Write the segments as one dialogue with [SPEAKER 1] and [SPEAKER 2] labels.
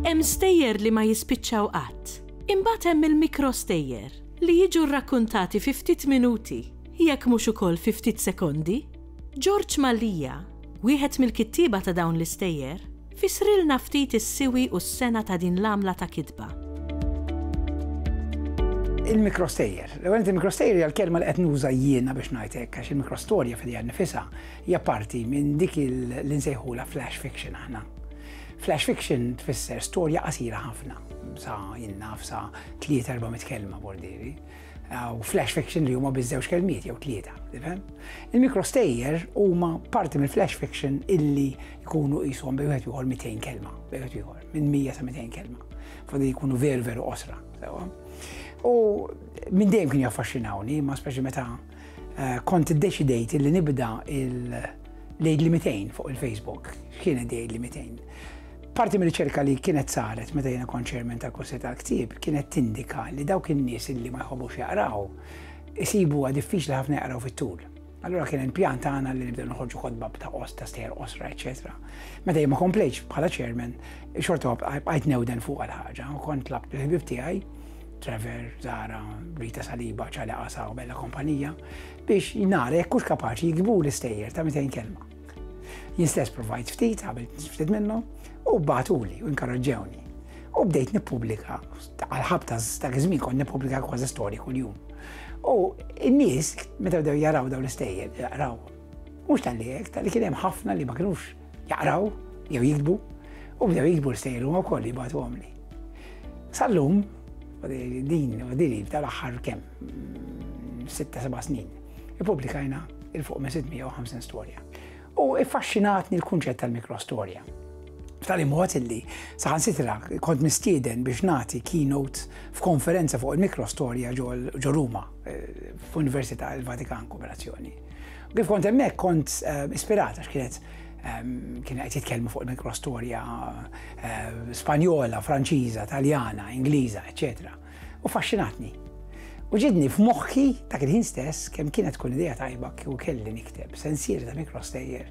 [SPEAKER 1] Hemm stejjer li ma jispiċċaw qatt. Imbagħad hemm il-mikrostejjer li jiġu rrakkuntati fi ftit minuti, jekk mhux ukoll fi ftit sekondi. George Mallia, wieħed mill-kittieba ta' dawn l-istejjer, Fissrilna ftit is-siwi u s-sengħa ta' din l-għamla ta' kitba.
[SPEAKER 2] Il-mikrostejjer. L-ewwel nett il-mikrostejjer hija l-kelma li qed nuża jiena biex ngħid hekk għax il-mikrostorja fidejha nnifisha hija parti minn dik li nsejħulha flash fiction aħna. Flash fiction tfisser storja qasira ħafna sa jien naf sa tliet erba' mit kelma bordieri. u flash fiction li huma biż-żewġ kelmiet jew tlieta, tifhem? Il-mikrostejjer huma parti mill-flash fiction illi jkunu qishom bejn wieħed ieħor 200 kelma, bejn wieħed ieħor, minn 100 sa 200 kelma. Fodi jkunu veru veru qosra, sewa. U minn dejjem kien jaffaxxinawni, ma speċi meta eh, kont iddeċidejt illi nibda il-lejd li 200 fuq il-Facebook, x'kienet dejd li 200. Parti mir-riċerka li kienet saret meta jiena kont chairman tal-Kunsill tal-Ktieb kienet tindika li dawk in-nies li ma jħobbux jaqraw isibuha diffiċli ħafna jaqraw fit-tul. Allura kien il-pjan tagħna li nibdew noħorġu kotba ta' qost ta' stejjer qosra, eċetera. Meta jien ma komplejtx bħala chairman, xorta bqajt newden fuq għal-ħaġa u kont tlab il-ħbib tiegħi, Trevor, Zara, Rita Saliba, ċali Qasa u Bella Kompanija, biex nara jekk hux kapaċi jikbu l-istejjer ta' 200 kelma. Jien stess provajt ftit, għamilt ftit minnhom, u batuli u inkarraġġewni. U bdejt nippubblika, għal-ħabta ta' żmien kont nippubblika kważi storji kuljum. U n-nies, meta bdew jaraw dawn l-istejjer, jaraw. Mhux tal-li hekk, tal-li kien hemm ħafna li ma kinux jaqraw jew jiktbu, u bdew jiktbu l-istejjer huma wkoll jibgħatu għamli. Sallum, din, din tal-aħħar kemm sitta seba' snin, ippubblikajna il fuq minn 650 storja. U iffaxxinatni l-kunċett tal-mikrostorja. F'tali mod illi saħansitra kont mistieden biex nagħti keynote f'konferenza fuq il-mikrostorja ġo Ruma eh, f'Università il-Vatikan Kooperazzjoni. Kif kont hemmhekk kont eh, ispirata x'kienet ehm, kien qed jitkellmu fuq il-mikrostorja eh, Spanjola, Franċiża, Taljana, Ingliża, eċċetera. u faxxinatni. U ġidni f'moħħi dak il-ħin stess kemm kienet tkun idea tajba kieku kelli nikteb sensieri ta' mikrostejjer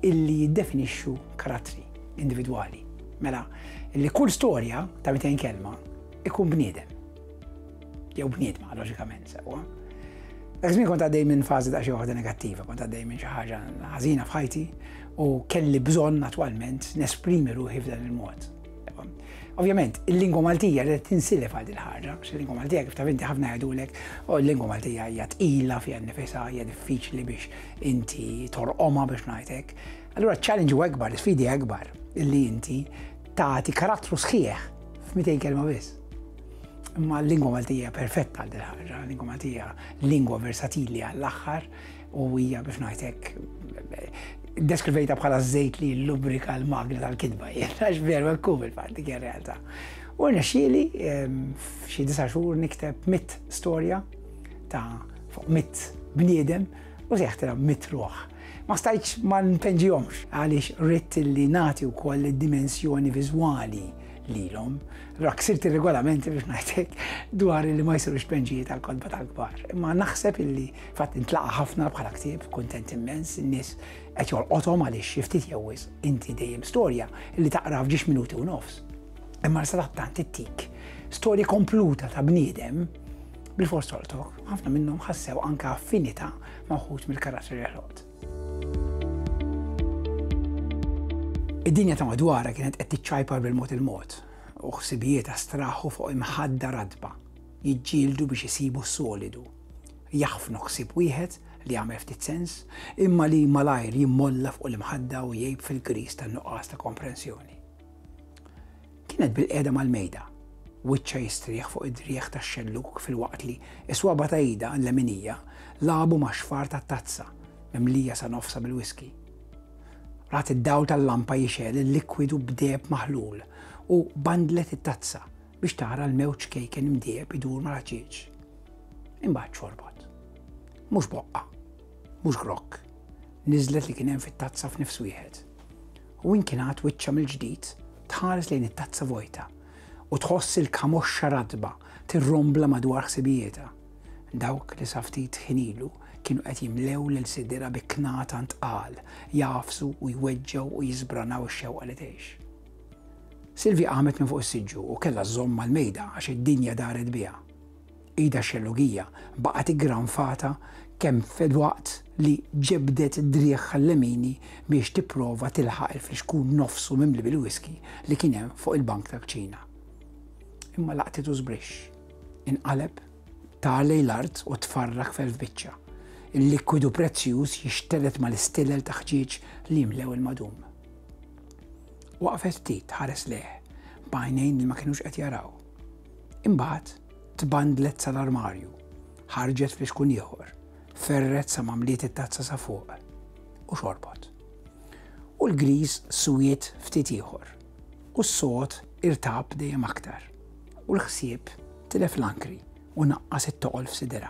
[SPEAKER 2] illi jiddefinixxu karattri individwali. Mela, illi kull storja ta' 200 kelma ikun bniedem. Jew bniedma, loġikament, sewwa. Dak żmien kont għaddej minn fażi ta' xi waħda negattiva, kont għaddej minn xi ħaġa ħażina f'ħajti u kelli bżonn attwalment nesprimi ruħi f'dan il-mod. Ovvjament, il-lingwa Maltija li tinsilef għal din ħarġa, għax il-lingwa Maltija kif taf inti ħafna jgħidulek, u l-lingwa Maltija hija tqila fiha nifisha hija diffiċli biex inti torqoma biex ngħidlek. Allura ċ-challenge u akbar, l-sfidi akbar li inti tagħti karattru sħiħ f'200 kelma biss. Imma l-lingwa Maltija perfetta għal din ħarġa, l-lingwa Maltija lingwa versatili għall-aħħar, U hija biex ngħid hekk deskrivejta bħala żejt li lubrika l-magna tal-kidba, għax veru hekk hu fil-fatt dik ir-realtà. U rnexxieli ehm, f'xi disa' xhur nikteb mit storja ta' fuq mit bniedem u seħtira mit ruħ. Ma stajċ ma npenġihomx għaliex ritt li nagħti wkoll id-dimensjoni viżwali lilhom. Allora ksirt ir-regolamenti biex ngħidlek dwar li ma jsirux penġijiet tal-kodba tal-kbar. Imma naħseb illi Fatt intlaqa' ħafna bħala ktieb, kuntent immens, in-nies qed jolqothom għaliex xi ftit jew wis inti dejjem storja li taqra f'ġiex minuti u nofs. Imma sadattant ittik storja kompluta ta' bniedem bil-fors toltok, ħafna minnhom ħassew anka affinità ma' wħud mill-karatteri ħlot. Id-dinja ta' madwara kienet qed tiċċajpar bil-mod il-mod u ħsibijiet astraħu fuq imħadda radba jiġġieldu biex isibu s-solidu jaħfnu ħsieb wieħed li jagħmel ftit sens, imma li malajr jimmolla fuq l-imħadda u jgħib fil-griż tan-nuqqas ta' komprensjoni. Kienet bilqiegħda mal-mejda, wiċċha jistrieħ fuq id-driegħ tax-xellug filwaqt li s-swaba ta' idha l-leminija lagħbu max-xfar tat-tazza mimlija sa nofsha bil-whiskey. Rat id-dawl tal-lampa jixgħel il-likwidu b'deheb maħlul u bandlet it-tazza biex tara l-mewġ kejken imdieb idur mal-ħaġieġ. Imbagħad xorbot. Mhux boqqa, mhux grokk, niżlet li kien hemm fit-tazza f'nifs wieħed. U inkinat wiċċa mill-ġdid tħares lejn it-tazza vojta u tħoss il-kamoxxa radba tirrombla madwar ħsibijieta. Dawk li saftit ħinilu kienu qed jimlew lil sidira bi knata ntqal, jafsu u jweġġew u jisbranaw ix-xewqa li tgħix. Silvia qamet minn fuq is-siġġu u kellha żżomm mal-mejda għax id-dinja daret biha. Idha xellugija baqgħet iggranfata kemm filwaqt li ġebdet driegħha l-lemini biex tipprova tilħaq il-flixkun nofsu mimli bil-whisky li kien hemm fuq il-bank tal-kċina. Imma laqtitu żbrixx. Inqaleb, tar lejn l-art u tfarrak f'elf biċċa. Il-likwidu prezzjuż jixtelet mal-istilel ta' ħġieġ li jimlew il-madum. Waqfet ftit tħares lejh b'għajnejn li ma kinux qed jaraw. Imbagħad tbandlet sal-armarju, ħarġet flixkun ieħor, ferret sa ma mliet it-tazza sa fuq u xorbot. U l-griż swiet ftit ieħor u s-sod irtab dejjem aktar u l-ħsieb tilef l-ankri u naqqas it-toqol f'sidera.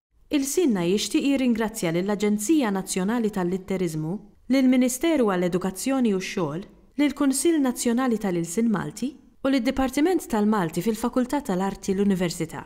[SPEAKER 1] Ilsienna jixtieq jirringrazzja lill-Aġenzija Nazzjonali tal-Litteriżmu, lill-Ministeru għall-Edukazzjoni u x-Xogħol, lill-Kunsill Nazzjonali tal-Ilsien Malti u lid-Dipartiment tal-Malti fil-Fakultà tal-Arti l-Università.